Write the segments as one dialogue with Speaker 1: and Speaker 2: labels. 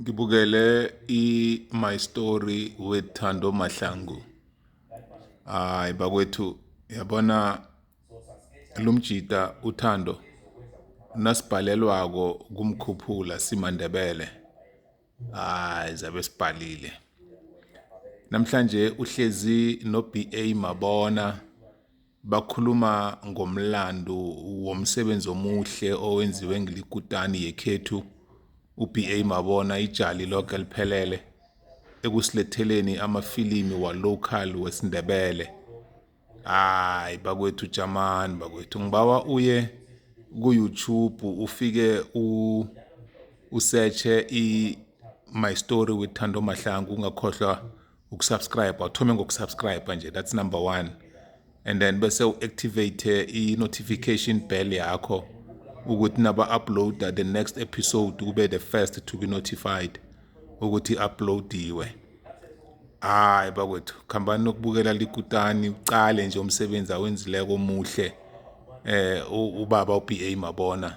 Speaker 1: ngibukele i-my story with thando mahlangu hayi bakwethu yabona lo mjita uthando nasibhalelwako kumkhuphula simandebele hayi zabe sibhalile namhlanje uhlezi no-ba mabona Bakhuluma ngomlando womsebenzi omuhle owenziwe ngilikutani yekhethu uBA Mabona ijali loke liphelele ekusiletheleni amafilimi wa-local wesiNdebele. Hayi bakwethu jamani bakwethu ngibawa uye ku-YouTube ufike u usearche i My Story with Thando Mahlangu ungakhohlwa ukusubscribe awuthome ngokusubscribe nje that's number one and then bese u-activate i-notification bell yakho ukuthi naba-uploada the next episode kube the first to be notified ukuthi uploadiwe hayi bakwethu khambani nokubukela likutani ucale nje umsebenzi awenzileko omuhle eh ubaba uBA mabona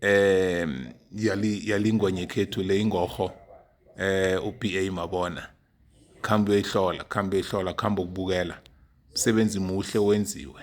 Speaker 1: eh yali yalingwenye khethu le ingoho eh uBA mabona khamba uyihlola khamba uyihlola khamba ukubukela msebenzi muhle wenziwe